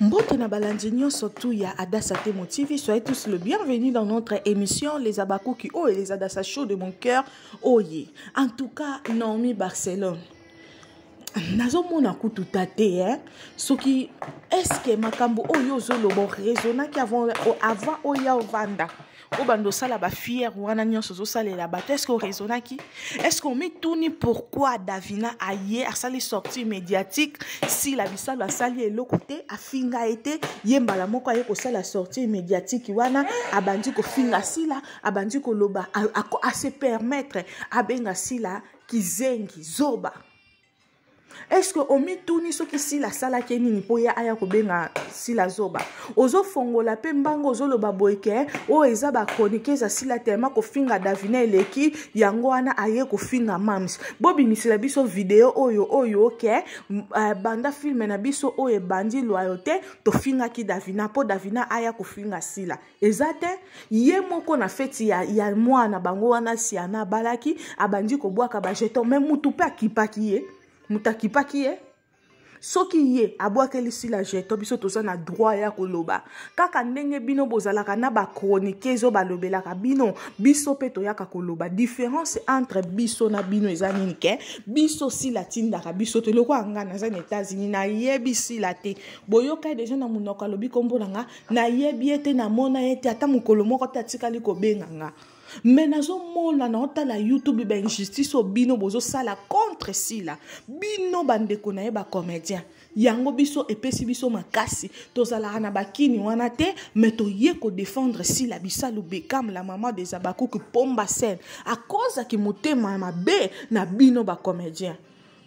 Mbote na balandi nyonso tout ya Adassa Temo TV, soyez tous le bienvenu dans notre émission Les Abakuki oh et les Adassa chaud de mon cœur. Oh yeah. En tout cas, Naomi Barcelone. nazomona kutu ta te hein? soki eske makambo oyo ozoloba oresonaki avant, avant oya ovanda obanda osala bafiere wana nyonso ozosalela bato estce oraisonnaki estce omituni pourquoi davina aye asali sortie médiatique sila bisalu asali eloko te afinga ye te ye mbala moko aye kosala sortie médiatique wana abandi kofinga sila abandi koloba ase permettre abenga sila kizengi zoba eske omituni soki sila asalaki ye nini mpo ye aya kobenga sila zoba ozofongola mpe mbango ozoloba boye ke oyo eza bachroniqueuse ya sila telema kofinga davina eleki yango wana aye kofinga mams bobimisela biso video oyo oyo ke uh, banda filme na biso oyo ebandi loyauté tofingaki davina mpo davina aya kofinga sila eza te ye moko na feti ya, ya mwana bango wana siana abalaki abandi kobwaka bajeton me mutu mpe akipaki ye moto akipaki ye soki ye abwakeli sila jeton biso toza na droit ya koloba kaka ndenge bino bozalaka na bachroniqueuse oyo balobelaka bino biso mpe toyaka koloba différence entre biso na bino eza nini ke biso sila atindaka biso te lokola ngai naza na états-unis nayebi sila te boyokai deja na monoko alobi kombo na ngai nayebi ye te namona ye te ata mokolo moko te atikali kobenga nga me nazomona na otala youtube bainjustice oyo bino bozosala contre sila bino bandeko na ye bacomédien yango biso epesi biso makasi tozalaka na bakini wana te me toye kodefendre sila bisalu bekam la maman des abakuki pomba sene akozaki motema mabe na bino bacomédien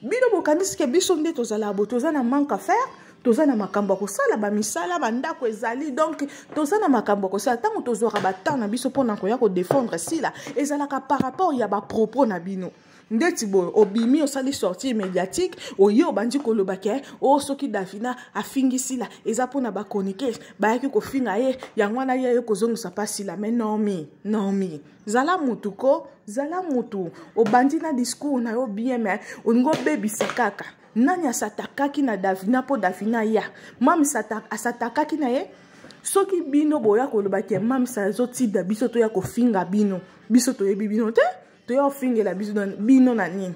bino bokanisi ke biso nde tozalaka bo toza na manque à faire toza na makambo ya kosala bamisala bandako ezali donk toza na makambo ya kosala ntango tozwaka batemp na biso mpo na koya kodefendre sila ezalaka par rapport ya bapropos na bino ndeti boye obimi osali sortie médiatique oye obandi koloba ke o oh, soki davina afingi sila eza mpona bachroniquer bayaki kofinga ye yango wana ye aye kozongisa mpa sila me nomi nomi zala mutu ko zala mutu obandi na discours na yo bien me olingi obebisa kaka nani asatakaki na davina mpo davina ya mami asatakaki na ye soki bino boya koloba ke mamisa azotinda biso toya kofinga bino biso toyebi bino te toya kofingela bino na nini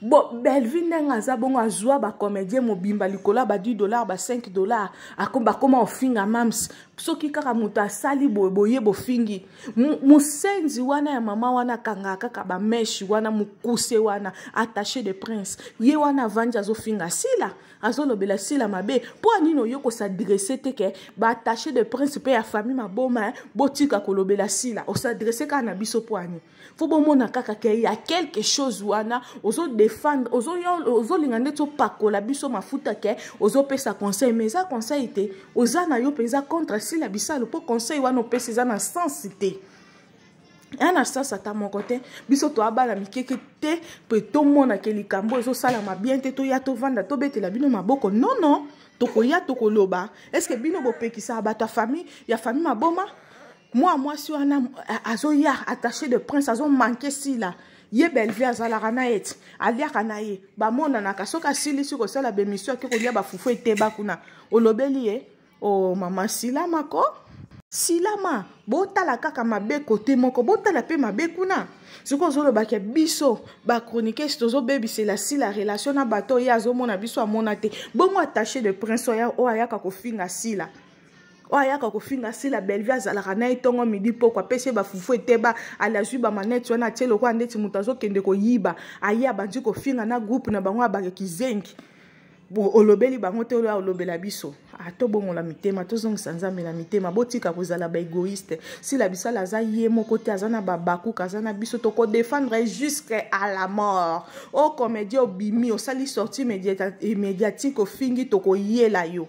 bo bellevue ndenge aza bongo azwa bacomédien mobimba likolo ya ba 10 dollar ba 5 dollar bakoma ofinga mams soki kaka moto asali boye boye bofingi mosenzi wana ya mama wana akangaka kaka bameshe wana mokuse wana attaché de prince ye wana avandi azofinga sila azolobela sila mabe mpo anini oye kosadresse te ke baattaché de prince mpe ya famille maboma botika kolobela sila osadresse kaka na biso mpo ani fo bomona kaka ke ya quelque chose wana ozodefendre ozolinga ndeti opakola biso mafuta ke ozopesa conseil mais eza conseil te oza na yo mpenza contre sila bisalu mpo conseil wana opesi eza na sens te aya na sens ata moko te biso toabala mikeke te mpe tomonake likambo ezosalama bien te toya tovanda tobetela bino maboko nono no. tokoya tokoloba eske bino bopekisaka bato ya famille ya famille maboma mwa mwasi wana azoya attaché de prince azomanke sila ye bellevue azalaka na ye ti aliaka na ye bamonanaka soki asilisi kosala bemission ake kolia bafufu eteba kuna olobeli ye o oh, mama silama ko silama botala kaka mabe kote moko botala mpe mabe kuna soki ozolobake biso bachroniquese tozobebisela sila relation na bato oyo ye azomona biso amona te bongo attaché de prince oyo ayaka kofinga sila oyo ayaka kofinga sila bellevue azalaka na ye ntongo midi mpoko apesi ye bafufu eteba ale azwi bamaneti wana atie lokola ndeti moto azokende koyiba aye abandi kofinga na groupe na bango abaka kizengi olobeli bango te oyo olobela biso ah, tobongola mitema tozongisa nzambe na mitema botika kozala baegoïste sila bisala aza ye moko te aza na babakuka aza na biso tokodefendre ye jusque à la mort o oh, comédien obimi osali sortie eh, médiatique ofingi tokoyela yo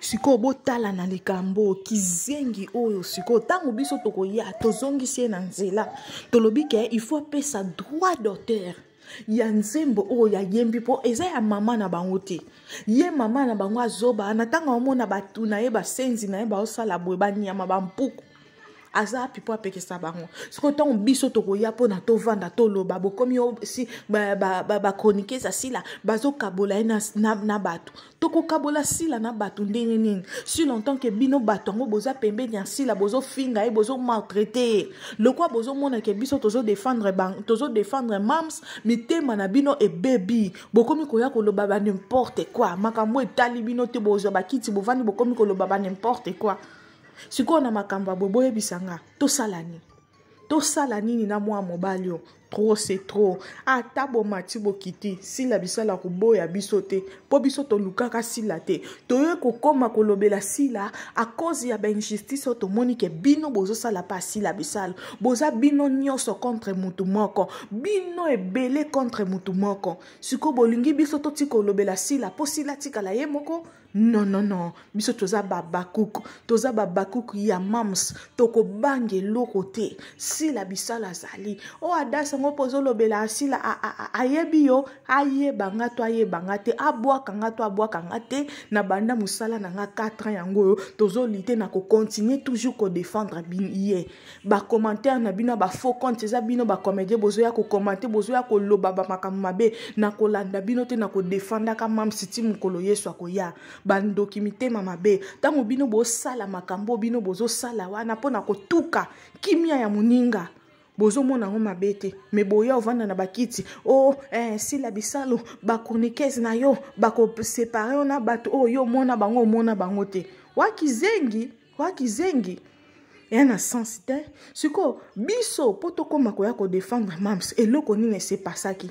sikoyo botala na likambo oyo kizengi oyo sikoyo ntango biso tokoya tozongisi ye na nzela tolobi ke il faut apesa droit d'auteur ya nzembo oyo yayembi mpo eza ya mama na bango te ye mama na bango azoba na ntango amona bato na ye basenzi na ye baosala boye banyama bampuku aza wapi mpo apekisa bango soki ntango biso tokoya mpona tovanda toloba bokomi si bachroniquese ya sila bazokabola ye na, na, na bato tokokabola sila na bato ndenge nini si longtemps ke bino bato yango boza pembeni ya sila bozofinga ye bozomaltraite ye lokwa bozomona ke biso tozodefendre tozo mams mitema na bino ebebi bokomi koya koloba ba n'importe quoi makambo etali bino te bozwa bakiti bovandi bokomi koloba ba n'importe quoi sikoyo na makambo ya boye boyebisa nga tosala nini tosala nini na mwana mobali oyo trop se trop ata bomati bokiti sila bisala koboya biso te mpo biso tolukaka sila te toye kokoma kolobela sila akozi ya bainjustice oyo tomoni ke bino bozosala mpe asila bisala boza bino nyonso contre motu moko bino ebele contre motu moko sikoyo bolingi biso totika kolobela sila mpo sila atikala ye moko non non non biso toza babakuku toza babakuku ya mams tokobanga eloko te sila bisala azali o oh, adas yango mpo ozolobela asila ayebi yo ayeba nga to ayeba nga te abwaka nga to abwaka nga te na banda mosala na nga 4 ans yango oyo tozolite na kokontinue toujours kodefendre ye ba commentaire na bino ba faux compte eza bino ba comédien bozoya ko commenter bozoya koloba ba makambo mabe na kolanda bino te na kodefandaka mam siti mokolo yesu akoya bandoki mitema mabe ntango bino bosala makambo bino bozosala wana mpo na kotuka kimia ya moninga bozomona yango mabe te me boya ovanda na bakiti o oh, eh, sila bisalu bachroniquese na yo bakosepare yo na bato oyo oh, yo omona bango omona bango te wakizengi Kwa kizengi eya na sens te sikoyo biso mpo tokóma koya kodefendre mams eloko nini esepasaki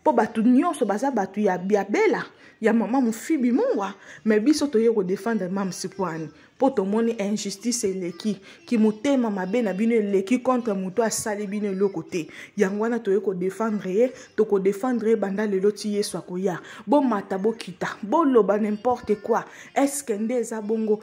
mpo bato nyonso baza bato ya, ya bela ya mama mofibi mungwa me biso toye kodefendre mams pwani mpo tomoni injustice eleki kimotema mabe na bino eleki contre moto asali bino eloko te yango wana toye kodefendre ye tokodefendre ye banda lelo ti yesu akoya bomata bokita boloba nimporte quoi eske nde eza bongo